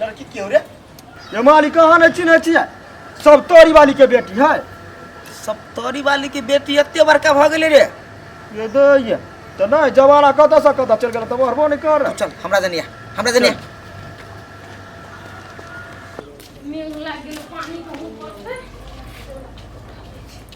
लड़की क्यों रे ये माली कहाँ न चिन्ह छियै सब तोरी वाली के बेटी है सब तोरी वाली के बेटी एते बड़का भ गेलै रे ये दो ये तो नहीं जवाना कत से कत चल गया तब हरबो नहीं कर चल हमरा जनिया हमरा जनिया मेघ लाग गेल पानी के ऊपर से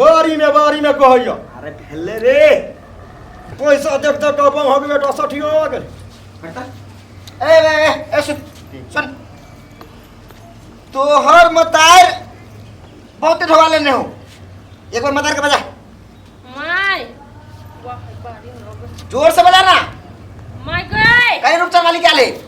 बारी में बारी में कहैया अरे भेले रे पैसा देख देख के अपन हो गेल बेटा सठियो हो गेल ए ए, ए, ए सुन सुन तोहर मतार बहुत ढवा लेने हो एक बार मतार के बजा माय वाह बारी में हो गए। जोर से बजा ना माय गए कहीं रुपचान वाली क्या ले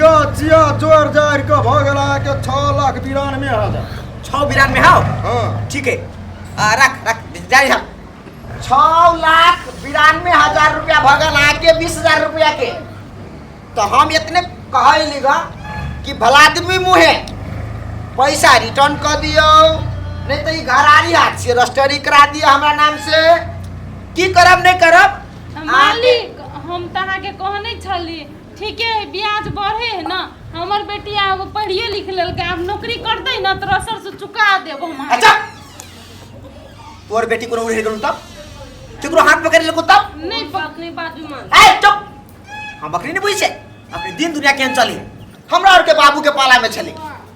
यो चिया जोर जार के भ गेल अहाँ के 6 लाख बिरानवे हजार छौ बिरान में हाउ हां ठीक है आ, रख रख जारी हम छौ लाख बिरानवे हजार रुपया भगल आके बीस हजार रुपया के तो हम इतने कहली गा कि भलादमी मुहे पैसा रिटर्न कर दियो नहीं तो ई घरारी हाथ से रजिस्टरी करा दियो हमरा नाम से की करब नहीं करब मालिक हम तहां के कहने छली ठीके है ब्याज बढ़े है ना हमर बेटी आगो पढ़िए लिख लेलकै आब नौकरी करतै ना तोरा सरसँ चुका देब हम अहाँके। अच्छा तोर बेटी कोनो उड़े गेलौ तब केकरो हाथ पकड़ लेलको तब नहीं बात नहीं बात भी मान ए चुप हम बकरी नहीं बुझै छै अपने दिन दुनिया केहन चली हमरा आर के बाबू के पाला में छलै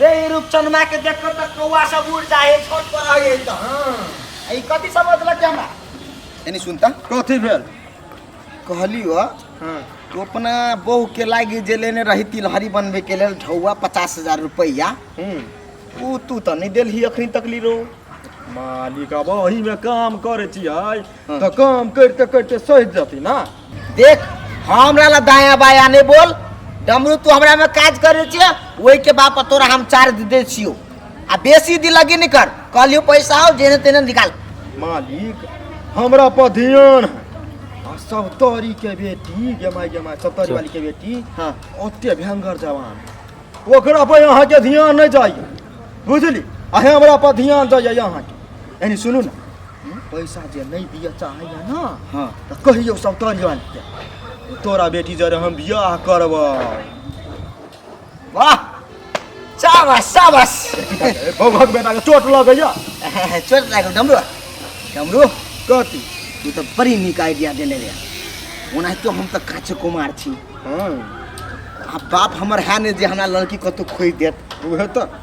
रे ई रूपचंदमा के देख के तक कौआ सब उड़ जाए छोट पर आ गए तो हां ई कथी समझलक के हमरा एनी सुनता कथी भेल कहली हो हां तो अपना बहू के लागी जे लेने रही तिलहरी बनबे के लेल ढौआ पचास हजार रुपया हम्म ऊ तू तो नहीं देलही अखनी तक ली रो मालिक अब वही में काम करे छियै हँ। तऽ काम करिते करिते सहि जती ना देख हमरा ला दाया बाया नहीं बोल डमरू तू हमरा में काज करे छिए वही के बाप तोरा हम चार्ज दे छियो आ बेसी दिलगी नहीं कर कहलियो पैसा आओ जेने तेने निकाल मालिक हमरा पर ध्यान है आ सब तोरी के बेटी गेमाई गेमाई सब तोरी वाली के बेटी हाँ। ओते भयंकर जवान है। ओकरा पर यहाँ के ध्यान नहीं जाइए बुझली आ हमरा पर ध्यान जाइए यहाँ के यानी सुनू ना पैसा जे नहीं दिया चाहे है ना हाँ तो कहियो सब तन जान के तोरा बेटी जरे हम बियाह करब वाह शाबाश शाबाश भगवान बेटा के चोट लग गया चोट लग डमरू डमरू कथी तू तो बड़ी निक आइडिया देने रे ओना तो हम तो काचे कुमार छी हाँ आ बाप हमर है ने जे हमरा लड़की कतौ खोई देत उहे तो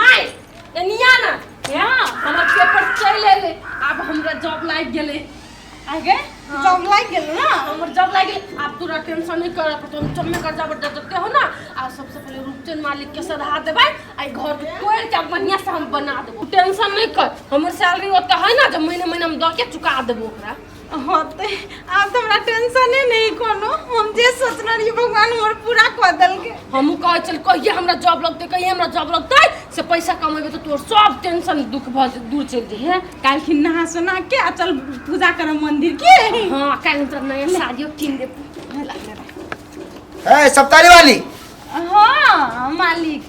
माय एनिया ना या हमर पेपर चलि एलै आब हमरा जॉब लागि गेलै आगे जॉब लागि गेल ना हमर जॉब लागि गेलै आब तोरा टेंशन नहि करऽ पड़तौ हम चम्मे कर्जा पर देते हो ना आ सबसे पहिले रूपचंद मालिक के सधा देबै आ ई घर के तोड़ के बढ़िया से हम बना देबो टेंशन नहीं कर हमर सैलरी ओते है ना जब महीने महीने हम दऽ के चुका देबो ओकरा होते आब तो हमरा टेंशने नहीं कोनो हम जे सोचना रही भगवान हमर पूरा कर दल के हमू कह चल कहिए हमरा जॉब लगते कहिए हमरा जॉब लगते से पैसा कमेबे तो तोर सब टेंशन दुख भ दूर चल जे है काल की नहा सोना के आ चल पूजा कर मंदिर के हां काल तो नया शादियो किन दे ए सप्तारी वाली हां मालिक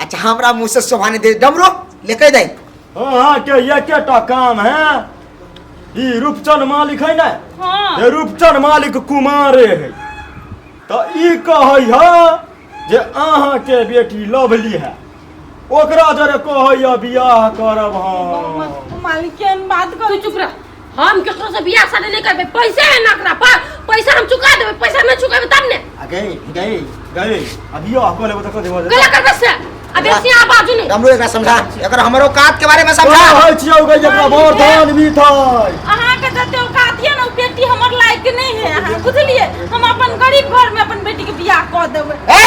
अच्छा हमरा मुंह से शोभा नहीं दे डमरू लेके जाई अहाँ के एकेटा काम है ई रूपचंद मालिक है ना हाँ ये रूपचंद मालिक कुमारे है तो ई कहै है जे अहाँ के बेटी लवली है ओकरा जरे कहै है बियाह करब हम मालिक केहन बात कर तू चुप रह हम केकरो से बियाह शादी नहीं करबे पैसे है ना ओकरा पर पैसा हम चुका देबे पैसा नहीं चुकेबे तब ने आ गई गई गई अभियो आपको लेबो तक देबो गला करबे से आ बेसी आ बाजू नहीं हमरो एकरा समझा एकर हमरो कात के बारे में समझा समझा होय छियौ गई जकरा भोर धान भी थई अहाँ के जते औकात ये ना बेटी हमर लायक के नहीं है अहाँ बुझलिए हम अपन गरीब घर में अपन बेटी के बियाह कऽ देबे ए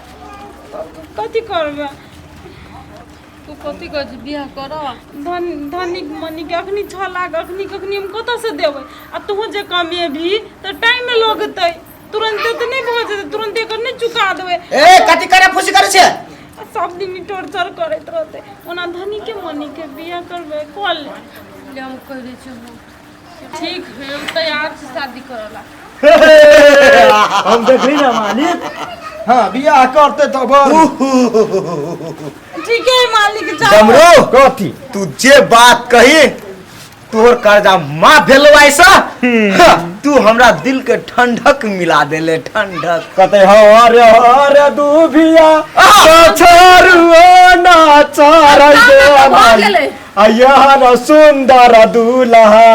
कथी करबै तू कथी कहै छी बियाह कर धन धनिक मनिक अखनी छओ लाख अखनी कखनी हम कतऽसँ देबै आ तोहूँ जे कमेबही तऽ टाइमे लगतै तुरन्ते तऽ नहि भऽ जेतै तुरन्ते एकर नहि चुका देबै ए कथी करे फुसी करे छे आ सब दिन ई टोर्चर करैत रहतै ओना धनिके मनिके बियाह करबै कऽ ले ले हम कहि दै छियै ठीक है उ तैयार से शादी करला हम देखली ना मालिक हाँ बियाह करते तो बस ठीक है मालिक जाओ डमरू कथी तू जे बात कही तोहर कर्जा माफ भेलो ऐसा हाँ, तू हमरा दिल के ठंडक मिला देले ठंडक कते हर हर दूभिया छोरुओ ना चढ़ हो गेलै अयहन सुंदर दूल्हा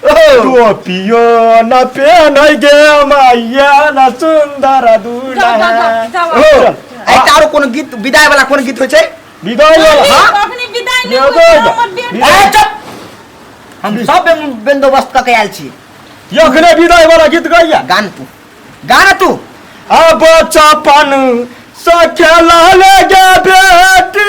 टोपियो न पेन गे मैया न सुंदर दूल्हा जा, जा, जा, जा। ओ, ए तारो कोनो गीत विदाई वाला कोन गीत होय छै विदाई वाला हाँ? अखनी विदाई नहि एगो होइए, जा। हमर बेटी। ए चुप हम सब बे- बंदोबस्त क के आयल छी यखने विदाई वाला गीत गैया गान तू गाना तू अब चपन सखेला ले गे बेटी